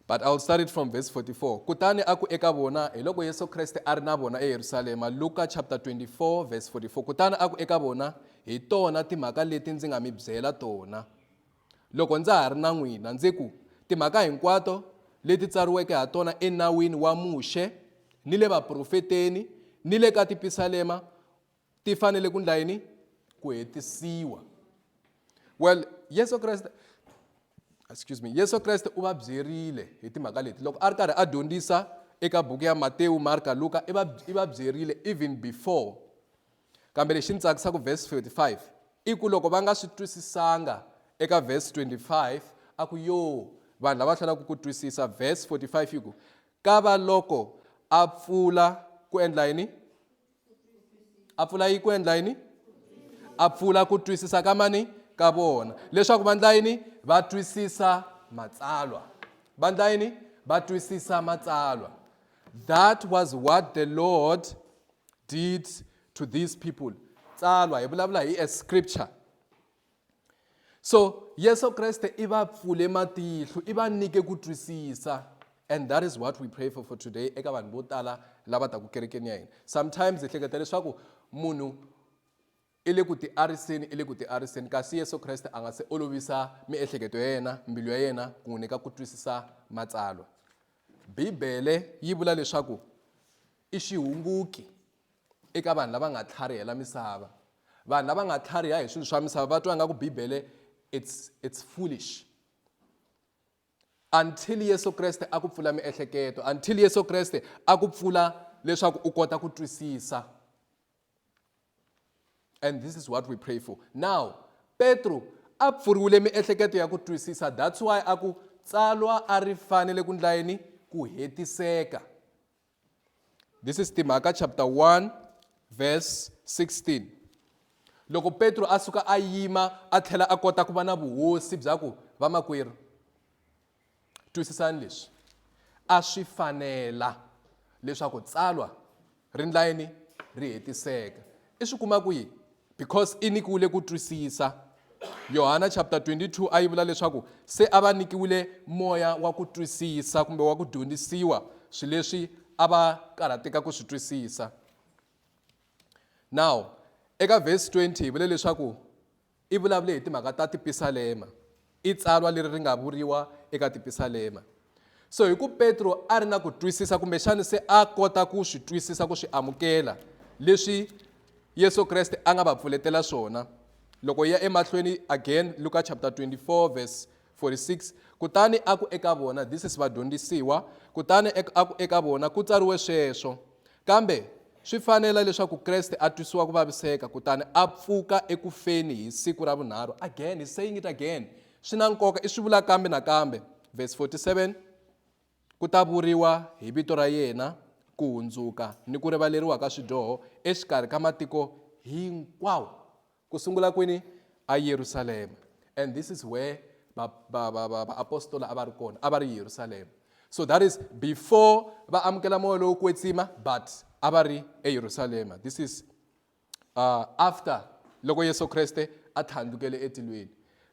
but i'll start it from verse 44 kutani a ku eka vona hi loko yesu kreste a ri na vona eyerusalema luka chapter 24 verse 44 kutani a ku eka vona hi tona timhaka leti ndzi nga mi byela tona Loko ndza ha ri na n'wina, ndzi ku, Timhaka hinkwato leti tsariweke ha tona eNawini wa Muxe, ni le vaprofeteni, ni le ka tipisalema ti fanele ku ndla yini? Ku hetisiwa. Well, Yesu Kreste excuse me Yesu Kreste u va byerile hi timhaka leti loko a ri karhi a dyondzisa eka buku ya Matewu, Marka, Luka i va i va byerile even before Kambe lexi ni tsakisa ku verse 45 i ku loko va nga swi twisisanga eka verse 25 a ku yo vanhu lava hlwelaka ku twisisa verse 45 yi ku ka va loko a pfula ku endla yini a pfula yi ku endla yini a pfula ku twisisa ka mani ka vona leswaku va ndla yini va twisisa matsalwa va ndla yini va twisisa matsalwa that was what the lord did to these people tsalwa hi vulavula hi a scripture so yesu kreste i va pfule matihlo i va nyike ku twisisa and that is what we pray for for today eka vanhu vo tala lava taku kerekeni ya hina sometimes hi hleketa leswaku munhu I le ku tiariseni, i le ku tiariseni, kasi Yesu Kreste a nga se olovisa miehleketo ya yena, mbilu ya yena, ku n'wi nyika ku twisisa Matsalwa. Bibele yi vula leswaku i xihunguki eka vanhu lava nga tlharihela misava. Vanhu lava nga tlhariha hi swilo swa misava va twa nga ku Bibele it's, it's foolish until Yesu Kreste a ku pfula miehleketo until Yesu Kreste a ku pfula leswaku u kota ku twisisa and this is what we pray for now petro a pfuriwile miehleketo ya ku twisisa that's why a ku tsalwa a ri fanele ku ndla yini ku hetiseka this is timhaka chapter 1 verse 16 loko petro a suka a yima a tlhela a kota ku va na vuhosi bya ku vamakwerhu Twisisani leswi, a swi fanela leswaku tsalwa ri ndla yini ri hetiseka. I swi kuma kwihi? Because i nyikiwile ku twisisa. Yohana chapter 22 a yi vula leswaku se a va nyikiwile moya wa ku twisisa kumbe wa ku dyondzisiwa swilo leswi a va karhateka ku swi twisisa. Now eka verse 20 hi vule leswaku i vulavule hi timhaka ta tipisalema, i tsalwa leri ri nga vuriwa eka tipisalema. So hi ku Petro a ri na ku twisisa kumbexana se a kota ku swi twisisa ku swi amukela leswi Yesu Kreste a nga va pfuletela swona. Loko hi ya emahlweni again Luka chapter 24 verse 46 kutani a ku eka vona, This is vadyondzisiwa, kutani a ku eka vona, Ku tsariwe sweswo. Kambe swi fanela leswaku Kreste a twisiwa ku vaviseka kutani a pfuka eku feni hi siku ra vunharhu. Again, he's saying it again. Swi na nkoka, i swi vula kambe nakambe. Verse 47, Ku ta vuriwa hi vito ra yena ku hundzuka ni ku rivaleriwa ka swidyoho exikarhi ka matiko hinkwawo. Ku sungula kwini? A Yerusalema. And this is where ba, ba, ba, ba, ba apostola a va ri kona, a va ri Yerusalema. So that is before va amukela moya lowo kwetsima, but a va ri eYerusalema. This is uh, after loko Yesu Kreste a tlhandlukele etilweni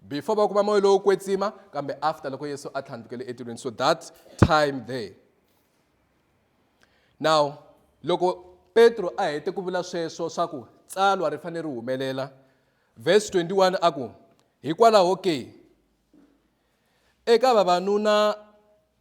before va kuma moya lowo kwetsima kambe after loko yesu a tlhandlukele etilweni so that time there now loko petro a hete ku vula sweswo swa ku tsalwa ri fanele ri humelela vhesi 21 a ku hikwalaho ke eka vavanuna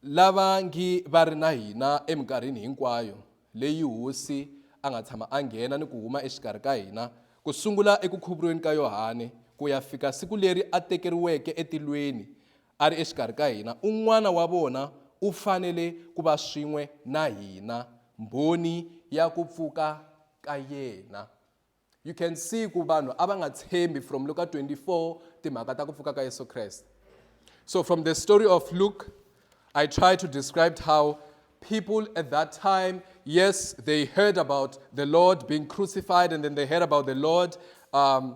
lava ngi va ri na hina eminkarhini hinkwayo leyi hosi a nga tshama a nghena ni ku huma exikarhi ka hina ku sungula eku khuvuriweni ka yohane ku ya fika siku leri a tekeriweke etilweni A ri exikarhi ka hina, un'wana wa vona u fanele ku va swin'we na hina, mbhoni ya ku pfuka ka yena. You can see ku vanhu a va nga tshembi from Luka 24 timhaka ta ku pfuka ka Yesu Kreste. So from the story of Luke, I try to describe how people at that time, yes, they heard about the Lord being crucified and then they heard about the Lord um,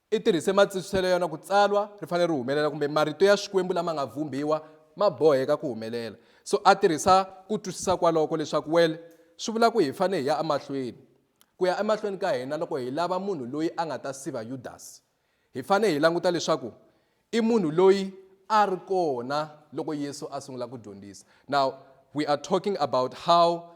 I tirhise matsintswiselo ya yona ku tsalwa ri fanele ri humelela kumbe marito ya Xikwembu lama nga vhumbiwa ma boheka ku humelela. So a tirhisa ku twisisa kwaloko leswaku well swi vula ku hi fanele hi ya emahlweni. Ku ya emahlweni ka hina loko hi lava munhu loyi a nga ta siva Yudasi, hi fanele hi languta leswaku i munhu loyi a ri kona loko Yesu a sungula ku dyondzisa. Now we are talking about how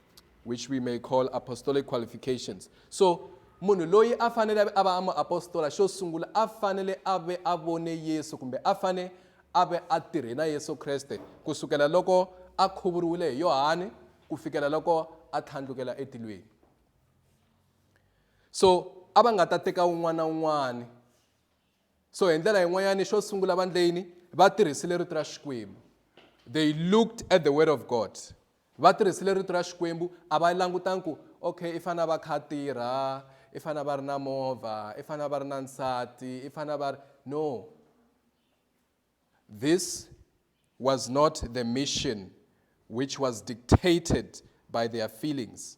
which we may call apostolic qualifications so munhu loyi a fanele a va a muapostola xo sungula a fanele a ve a vone yesu kumbe a fane a ve a tirhe na yesu kreste ku sukela loko a khuvuriwile hi yohani ku fikela loko a tlhandlukela etilweni so a va nga ta teka un'wana na un'wana so hi ndlela yin'wanyani xo sungula vandleyini va tirhisile rito ra xikwembu they looked at the word of god Va tirhisile rito ra Xikwembu a va langutanga ku, okay, i fanele a va a kha a tirha, i fanele a va a ri na movha, i fanele a va a ri na nsati, i fanele a va a ri. No. This was not the mission which was dictated by their feelings.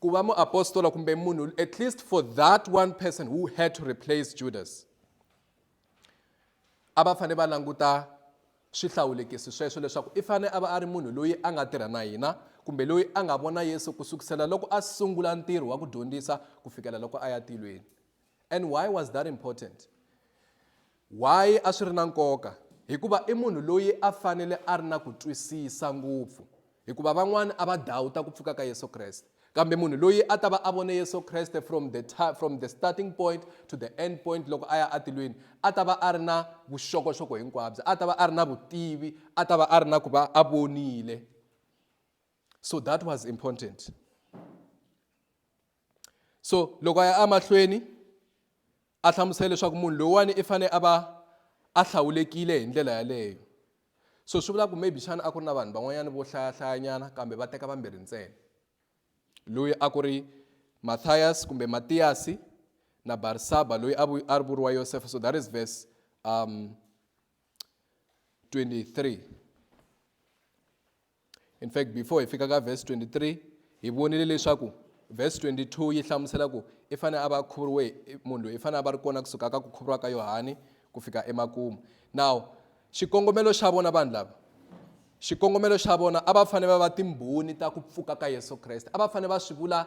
Ku va muapostola kumbe munhu at least for that one person who had to replace Judas a va fanele va languta swihlawulekisi sweswo leswaku i fanele a va a ri munhu loyi a nga tirha na hina kumbe loyi a nga vona Yesu ku sukusela loko a sungula ntirho wa ku dyondzisa ku fikela loko a ya tilweni and why was that important Why a swi ri na nkoka? Hikuva i munhu loyi a fanele a ri na ku twisisa ngopfu, hikuva van'wana a va dawuta ku pfuka ka Yesu Kreste. Kambe munhu loyi a ta va a vone Yesu Kreste from the from the starting point to the end point loko a ya atilweni, a ta va a ri na vuxokoxoko hinkwabyo, a ta va a ri na vutivi, a ta va a ri na ku va a vonile. So that was important. so loko a ya amahlweni a hlamusela leswaku munhu loyiwani i fanele a va a hlawulekile hi ndlela yaleyo so swi vula ku maybe xana a ku ri na vanhu van'wanyana vo hlayahlayanyana kambe va teka vambirhi ntsena loyi a ku ri matthias kumbe matiyasi na barisaba loyi a ri vuriwa yosefa so that is verse um 23 In fact, before hi fika ka verse 23, hi vonile leswaku verse 22 yi hlamusela ku i fanele a va khuvuriwe munhu loyi i fanele a va ri kona kusuka ka ku khuvuriwa ka Yohani ku fika emakumu. Now, xikongomelo xa vona vanhu lava xikongomelo xa vona a va fanele va va timbhoni ta ku pfuka ka Yesu Kreste. A va fanele va swi vula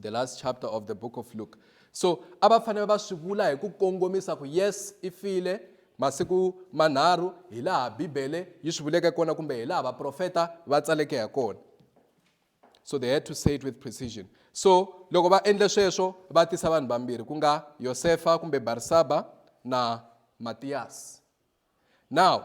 the last chapter of the book of luke so a va fanele va swi vula hi ku kongomisa ku yes i file masiku manharhu hi laha bibele yi swi vuleke kona kumbe hi laha vaprofeta va tsaleke ha kona so they had to say it with precision so loko va endle sweswo va tisa vanhu vambirhi ku nga yosefa kumbe barisaba na matiyasi now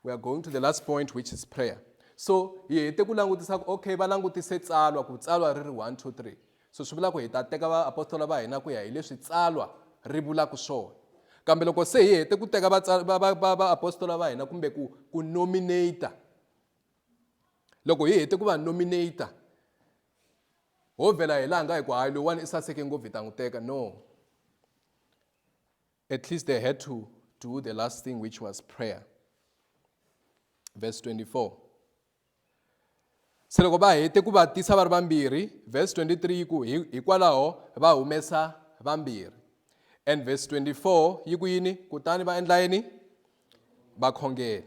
we are going to the last point which is prayer so hi hete ku langutisa ku okay va langutise tsalwa ku tsalwa ri ri 1 2 3 so swi vula ku hi ta teka vaapostola va hina ku ya hi leswi tsalwa ri vulaka swona kambe loko se hi hete ku teka vaapostola va hina kumbe ku ku nominata loko hi hete ku va nominata ho vhela hi laha nga hi ku hayi loyiwani i saseke ngopfu hi ta n'wi teka no At least they had to do the last thing, which was prayer. Verse 24. se loko va hete ku va tisa va ri vambirhi verse 23 yi ku hikwalaho va humesa vambirhi and verse 24 yi ku yini kutani va endla yini va khongela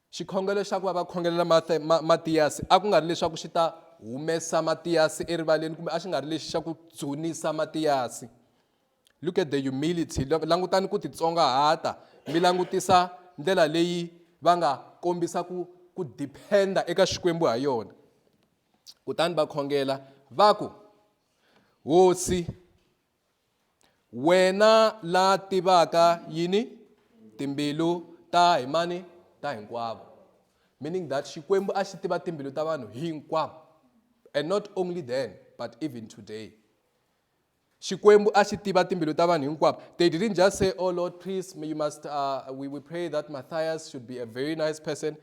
Xikhongelo xa ku va va khongelela Mathe, ma, Matiyasi a ku nga ri leswaku xi ta humesa Matiyasi erivaleni kumbe a xi nga ri lexi xa ku dzunisa Matiyasi. Look at the humility. Langutani ku titsongahata mi langutisa ndlela leyi va nga kombisa ku ku dependa eka Xikwembu ha yona. Kutani va khongela va ku, Hosi, Wena la tivaka yini timbilu ta hi mani ta hinkwavo meaning that xikwembu a xi tiva timbilu ta vanhu hinkwavo and not only then but even today xikwembu a xi tiva timbilu ta vanhu hinkwavo they didn't just say oh lord please you must uh, we, we pray that matthias should be a very nice person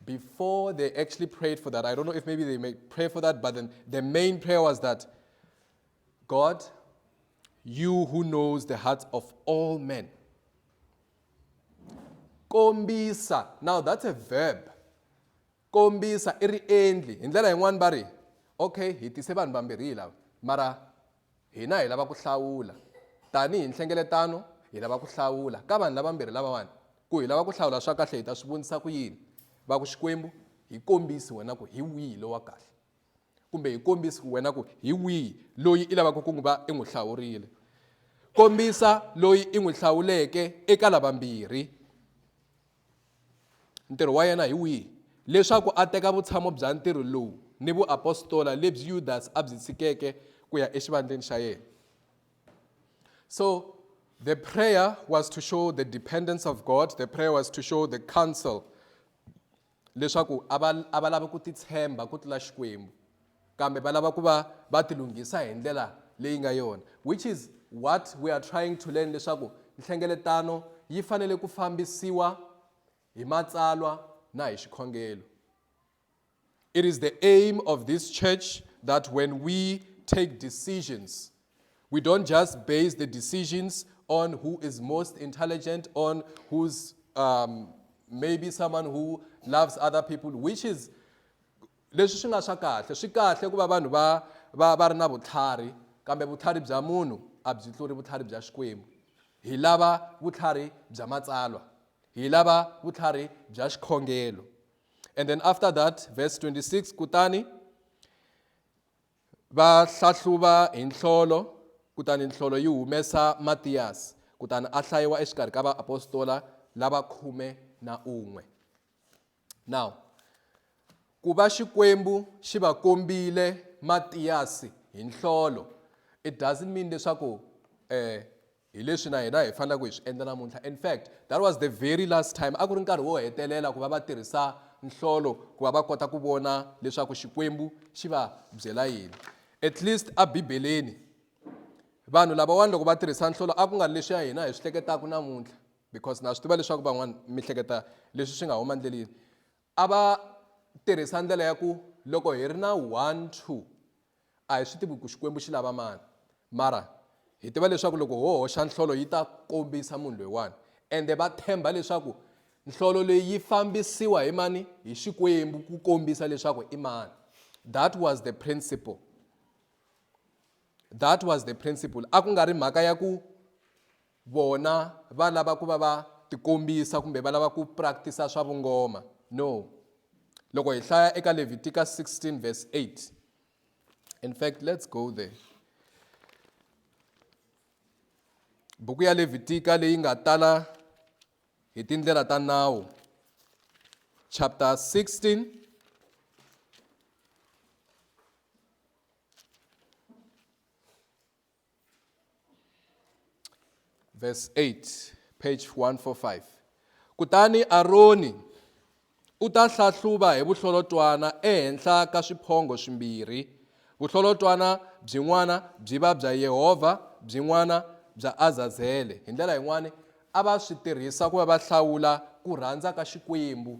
before they actually prayed for that i don't know if maybe they may pray for that but then the main prayer was that God, you who knows the hearts of all men. Kombisa. Now that's a verb. Kombisa i ri endli. Hi ndlela yin'wana va ri, okay, hi tise vanhu vambirhi lava. Mara hina hi lava ku hlawula. Tanihi nhlengeletano, hi lava ku hlawula. Ka vanhu lavambirhi lavawani, ku hi lava ku hlawula swa kahle hi ta swi vonisa ku yini? Va ku Xikwembu, hi kombisi wena ku hi wihi lowa kahle. kumbe hi kombisi ku wena ku hi wihi loyi i lavaka ku n'wi va i n'wi hlawurile kombisa loyi i n'wi hlawuleke eka lavambirhi ntirho wa yena hi wihi leswaku a teka vutshamo bya ntirho lowu ni vuapostola lebyi yudasi a byi tshikeke ku ya exivandleni xa yena so the prayer was to show the dependence of god the prayer was to show the counsel leswaku a va a va lavi ku titshemba ku tlula Xikwembu kambe va lava ku va va tilunghisa hi ndlela leyi nga yona which is what we are trying to learn leswaku nhlengeletano yi fanele ku fambisiwa hi matsalwa na hi xikhongelo it is the aim of this church that when we take decisions We don't just base the decisions on who is most intelligent, on who's um, maybe someone who loves other people, which is leswi swi nga swa kahle swi kahle ku va vanhu va va va ri na vutlhari kambe vutlhari bya munhu a byi tluri vutlhari bya xikwembu hi lava vutlhari bya matsalwa hi lava vutlhari bya xikhongelo and then after that verse 26 kutani Va hlahluva hi nhlolo, kutani nhlolo yi humesa Matiyasi, kutani a hlayiwa exikarhi ka vaapostola lava khume na un'we. Now, ku va Xikwembu xi va kombile Matiyasi hi nhlolo, it doesn't mean leswaku eh, Hi leswi na hina hi faneleke hi swi endla namuntlha. In fact, that was the very last time, a ku ri nkarhi wo hetelela ku va va tirhisa nhlolo ku va va kota ku vona leswaku Xikwembu xi va byela yini. At least eBibeleni, vanhu lavawani loko va tirhisa nhlolo a ku nga ri leswi ya hina hi swi hleketaka namuntlha because na swi tiva leswaku van'wana mi hleketa leswi swi nga huma ndleleni a va tirhisa ndlela ya ku loko hi ri na one two A hi swi tivi ku Xikwembu xi lava mani, mara hi tiva leswaku loko ho hoxa nhlolo yi ta kombisa munhu loyiwani. Ende va tshemba leswaku nhlolo leyi yi fambisiwa hi mani? Hi Xikwembu ku kombisa leswaku i mani. That was the principle. That was the principle. A ku nga ri mhaka ya ku vona va lava ku va va tikombisa kumbe va lava ku practice swa vungoma no loko hi hlaya eka Leviticus 16 verse 8 in fact let's go there buku ya Levitika leyi nga tala hi tindlela ta nawu chapter 16 verse verse 8 page 145 kutani aroni u ta hlahluva hi vuhlolotwana ehenhla ka swiphongo swimbirhi vuhlolotwana byin'wana byi va bya yehovha byin'wana bya azazele hi ndlela yin'wani a va swi tirhisa ku va va hlawula ku rhandza ka xikwembu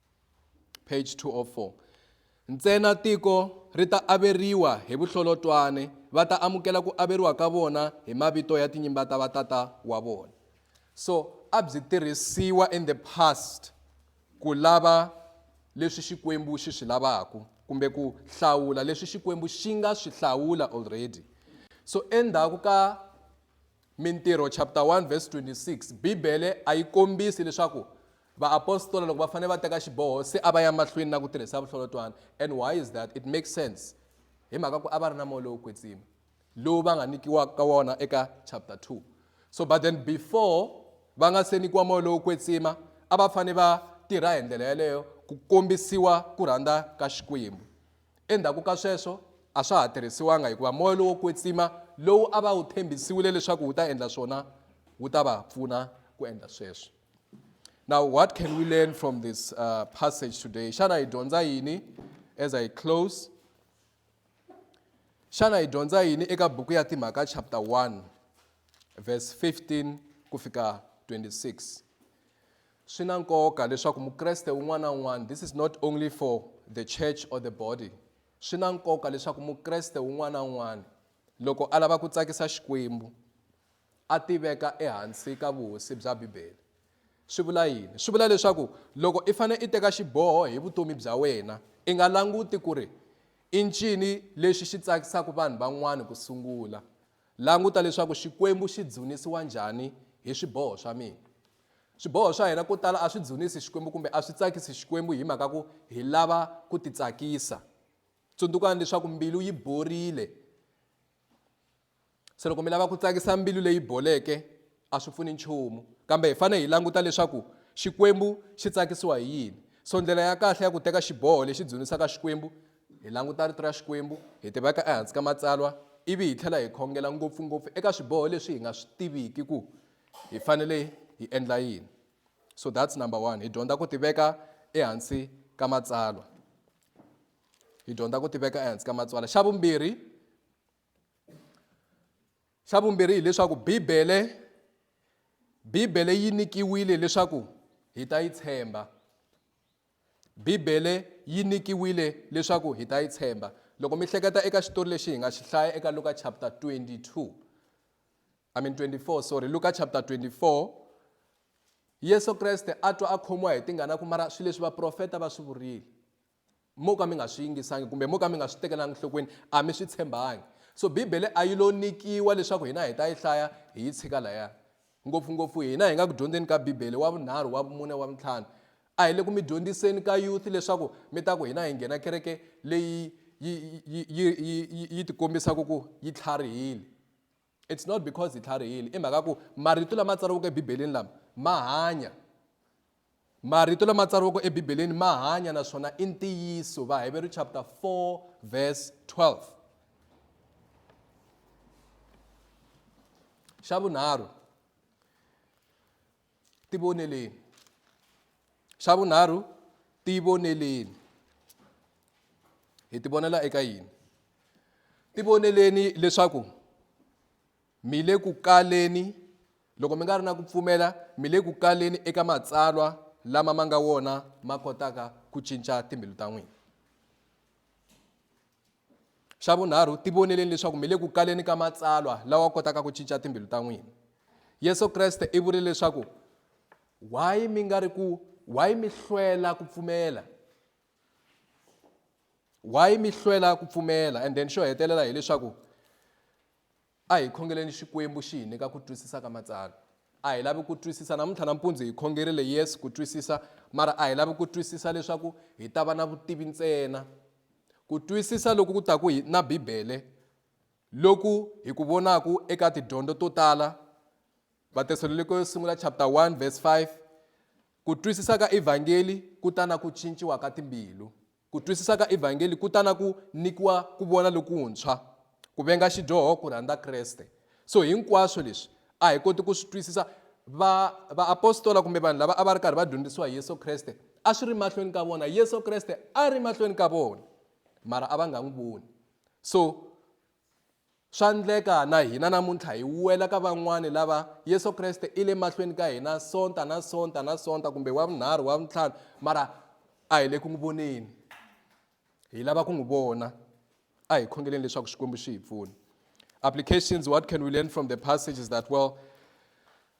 page 204 ntsena tiko ri ta averiwa hi vuhlolotwane va ta amukela ku averiwa ka vona hi mavito ya tinyimba ta vatata wa vona so a byi tirhisiwa in the past ku lava leswi xikwembu xi swi lavaka kumbe ku hlawula leswi xikwembu xi nga swi hlawula already so endzhaku ka mintirho chapter 1 verse 26 bibele a yi kombisi leswaku Vaapostola loko va fanele va teka xiboho se a va ya mahlweni na ku tirhisa vuhlolotwana. And why is that? It makes sense hi mhaka ku a va ri na moya lowo kwetsima lowu va nga nyikiwaka wona eka chapter 2. So but then before va nga se nyikiwa moya lowo kwetsima a va fanele va tirha hi ndlela yaleyo ku kombisiwa ku rhandza ka Xikwembu. Endzhaku ka sweswo a swa ha tirhisiwanga hikuva moya lowo kwetsima lowu a va wu tshembisiwile leswaku wu ta endla swona wu ta va pfuna ku endla sweswo. Now, what can we learn from this uh, passage today? Shana idonza yini as I close? Shana idonza yini eka buku ya timhaka chapter 1 verse 15 kufika 26. Swi na nkoka leswaku Mukreste un'wana un'wana this is not only for the church or the body. Swi na nkoka leswaku Mukreste un'wana un'wana loko a lava ku tsakisa Xikwembu a ti veka ehansi ka vuhosi bya Bibele. Swi vula yini? Swi vula leswaku loko i fanele i teka xiboho hi vutomi bya wena, i nga languti ku ri i ncini lexi xi tsakisaka vanhu van'wana ku sungula. Languta leswaku Xikwembu xi dzunisiwa njhani hi swiboho swa mina. Swiboho swa hina ko tala a swi dzunisi Xikwembu kumbe a swi tsakisi Xikwembu hi mhaka ku hi lava ku titsakisa. Tsundzukani leswaku mbilu yi borile. se loko mi lava ku tsakisa mbilu leyi boleke a swi pfuni nchumu kambe hi fanele hi languta leswaku xikwembu xi tsakisiwa hi yini so ndlela ya kahle ya ku teka xiboho lexi dzunisaka xikwembu hi languta rito ra xikwembu hi tiveka ehansi ka matsalwa ivi hi tlhela hi khongela ngopfungopfu eka swiboho leswi hi nga swi tiviki ku hi fanele hi endla yini so that's number one hi dyondza ku tiveka ehansi ka matsalwa hi dyondza ku tiveka ehansi ka matsalwa xa vumbirhi xa vumbirhi hileswaku bibele bibele yi nyikiwile leswaku hi ta yi tshemba bibele yi nyikiwile leswaku hi ta yi tshemba loko mi hleketa eka xitori lexi hi nga xi hlaya eka luka chapter 22 i mean 24 sorry luka chapter 24 yesu kreste a twa a khomiwa hi tingana ku mara swilo leswi vaprofeta va swi vurile mo ka mi nga swi yingisangi kumbe mo ka mi nga swi tekelanga enhlokweni a mi swi tshembangi so bibele a yi lo nyikiwa leswaku hina hi ta yi hlaya hi yi tshika laya ngopfungopfu hina hi nga ku dyondzeni ka bibele wa vunharhu wa vumune wa vuntlhanu a hi le ku mi dyondziseni ka youth leswaku mi ta ku hina hi nghena kereke leyi yi yi yi yi yi yi tikombisaka ku yi tlharihile It's not because hi tlharihile, i mhaka ku marito lama tsariweke eBibeleni lama ma hanya. Marito lama tsariweke eBibeleni ma hanya naswona i ntiyiso. Vaheveru chapter 4 verse 12. Xa vunharhu, tivoneleni xa vunharhu tivoneleni hi tivonela eka yini tivoneleni leswaku mi le ku kaleni loko mi nga ri na ku pfumela mi le ku kaleni eka matsalwa lama ma nga wona ma kotaka ku cinca timbilu ta n'wina Xa vunharhu, tivoneleni leswaku mi le ku kaleni ka matsalwa lawa kotaka ku cinca timbilu ta n'wina. Yesu Kreste i vurile leswaku, Why mi nga ri ku why mi hlwela ku pfumela? Why mi hlwela ku pfumela? And then xo hetelela hileswaku A hi khongeleni Xikwembu xi hi nyika ku twisisa ka Matsalwa. A hi lavi ku twisisa. Namuntlha nampundzu hi khongerile, yes, ku twisisa, mara a hi lavi ku twisisa leswaku hi ta va na vutivi ntsena. Ku twisisa loku ku taku hi na Bibele, loku hi ku vonaku eka tidyondo to tala, Vatesalonike yo Sungula chapter 1 verse 5, ku twisisa ka Evhangeli ku ta na ku cinciwa ka timbilu. Ku twisisa ka Evhangeli ku ta na ku nyikiwa ku vona lokuntshwa, ku venga xidyoho, ku rhandza Kreste. So hinkwaswo leswi a hi koti ku swi twisisa. Va, vaapostola kumbe vanhu lava a va ri karhi va dyondzisiwa hi Yesu Kreste, a swi ri mahlweni ka vona. Yesu Kreste a ri mahlweni ka vona, mara a va nga n'wi voni. So Swa ndleka na hina namuntlha hi wela ka van'wana lava Yesu Kreste i le mahlweni ka hina sonta na sonta na sonta kumbe wa vunharhu wa vuntlhanu mara a hi le ku n'wi voneni hi lava ku n'wi vona a hi khongeleni leswaku xikwembu xi hi pfuna applications what can we learn from the passages that well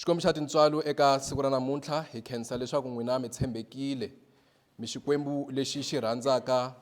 Xikwembu xa tintswalo eka siku ra namuntlha hi khensa leswaku n'wina mi tshembekile mi xikwembu lexi xi rhandzaka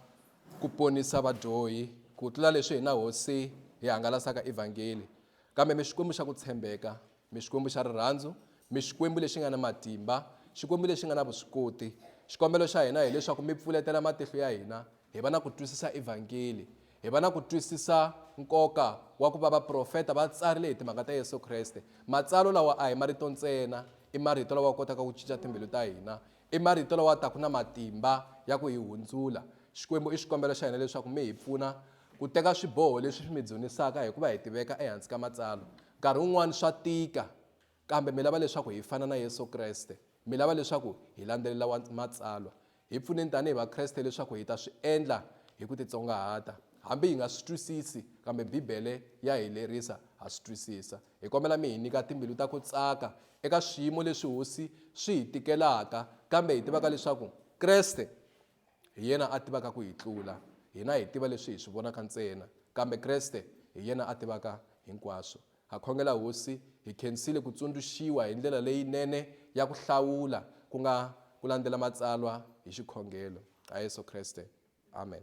ku ponisa vadyohi ku tlula leswi hina hosi hi hangalasaka evhangeli kambe mi xikwembu xa ku tshembeka mi xikwembu xa rirhandzu mi xikwembu lexi nga na matimba xikwembu lexi nga na vuswikoti xikombelo xa hina hileswaku mi pfuletela matihlo ya hina hi va na ku twisisa evhangeli Hi va na ku twisisa nkoka wa ku va vaprofeta va tsarile hi timhaka ta Yesu Kreste. Matsalwa lawa a hi marito ntsena, i marito lawa kotaka ku cinca timbilu ta hina. I marito lawa taka na matimba ya ku hi hundzula. Xikwembu, i xikombelo xa hina leswaku mi hi pfuna ku teka swiboho leswi swi mi dzunisaka hi ku va hi tiveka ehansi ka Matsalwa. Nkarhi wun'wana swa tika. Kambe mi lava leswaku hi fana na Yesu Kreste. Mi lava leswaku hi landzelela wa, Matsalwa. Hi pfuneni tanihi Vakreste leswaku hi ta swi endla hi ku titsongahata. Hambi hi nga swi twisisi, kambe Bibele ya hi lerisa ha swi twisisa. Hi kombela mi hi nyika timbilu ta ku tsaka eka swiyimo leswi hosi swi hi tikelaka, kambe hi tivaka leswaku Kreste Hi yena a tivaka ku hi tlula. Hina hi tiva leswi hi swi vonaka ntsena, kambe Kreste hi yena a tivaka hinkwaswo. Ha khongela, Hosi, hi khensile ku tsundzuxiwa hi ndlela leyinene ya ku hlawula, ku nga ku landzela Matsalwa hi xikhongelo. Ha Yesu Kreste. Amen.